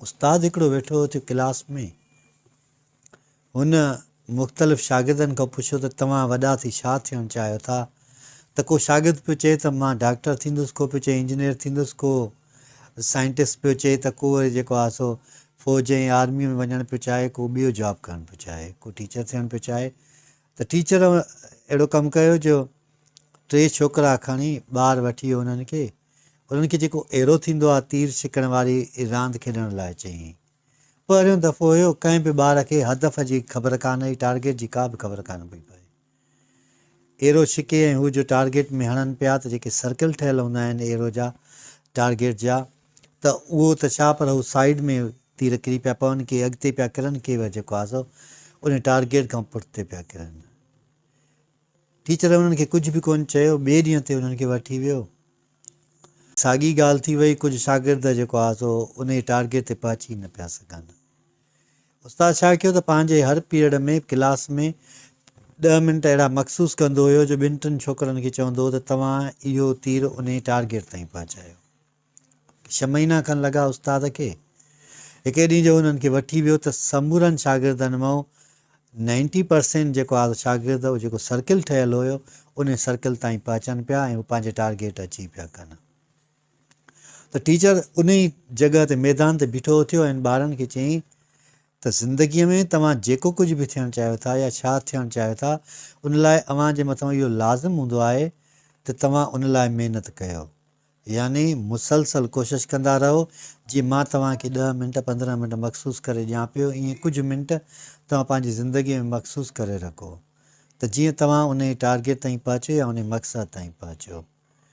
استاد هڪڙو ويٺو هو ته ڪلاس ۾ هن مختلف شاگردن کان پڇيو ته توهان وڏا ٿي ڇا ٿيڻ چاهيو ٿا ته ڪو شاگرد پيو چئي ته مان ڊاڪٽر ٿيندس ڪو پيو چئي انجنيئر ٿيندس ڪو سائنٽسٽ پيو چئي ته ڪو وري جيڪو آهي سو فوج ۽ آرمي ۾ وڃڻ پيو چاهي ڪو ٻيو جاب ڪرڻ پيو چاهي ڪو ٽيچر ٿيڻ پيو چاهي ته ٽيچر اهڙو ڪم ڪيو جو ٽي ڇوڪرا کڻي ٻار وٺي انهن کي انهن کي جيڪو ايرو ٿيندو آهي تير ڇڪڻ واري راند کيڏڻ لاء چيائين. پهريون دفعو هيو ڪنهن به ٻار کي هدف جي خبر ڪانه هئي ٽارگيٽ جي ڪا به خبر ڪانه پئي پوي. ايرو ڇڪي ۽ هو جو ٽارگيٽ ۾ هڻن پيا ته جيڪي سرڪل ٺهيل هوندا آهن ايرو جا ٽارگيٽ جا ته اهو ته ڇا پر هو سائيڊ ۾ تير ڪري پيا پون ڪي اڳتي پيا ڪرن ڪي وري جيڪو آهي سو انهي ٽارگيٽ کان پٺتي پيا ڪرن. ٽيچر انهن کي ڪجهه به ڪونه چيو، ٻئي ڏينهن تي انهن کي وٺي ويو. ساڳي ڳالهه ٿي وئي، ڪجهه شاگرد جيڪو آ سو انهي ٽارگيٽ تي پهچي نه پيا سگهن. استاد ڇا ڪيو ته پنهنجي هر پيريڊ ۾ ڪلاس ۾ ڏهه منٽ اهڙا مخصوص ڪندو هيو جو ٻن ٽن ڇوڪرن کي چوندو هو ته توهان اهو تير انهي ٽارگيٽ تائين پهچايو. ڇهه مهينا کن لڳا استاد کي. هڪڙي ڏينهن جو هنن کي وٺي ويو ته سمورن شاگردن مئو نائنٽي پرسينٽ جيڪو آ شاگرد هو جيڪو سرڪل ٺهيل هيو انهي سرڪل تائين پهچن پيا ۽ هو پنهنجي ٽارگيٽ اچي پيا ڪن ته ٽيچر انهي جڳهه تي ميدان تي بيٺو اٿيو ۽ ٻارن کي چيائين ته زندگي ۾ توهان جيڪو ڪجهه به ٿيڻ چاهيو ٿا يا ڇا ٿيڻ چاهيو ٿا ان لاء اوهان جي مٿان اهو لازم هوندو آهي ته توهان ان لاء محنت ڪيو يعني مسلسل ڪوشش ڪندا رهو، جيئن مان توهان کي ڏهه منٽ پندرهن منٽ مخصوص ڪري ڏيان پيو ائين ڪجهه منٽ توهان پنهنجي زندگي ۾ مخصوص ڪري رکو ته جيئن توهان انهي ٽارگيٽ تائين پهچو يا انهي مقصد تائين پهچو.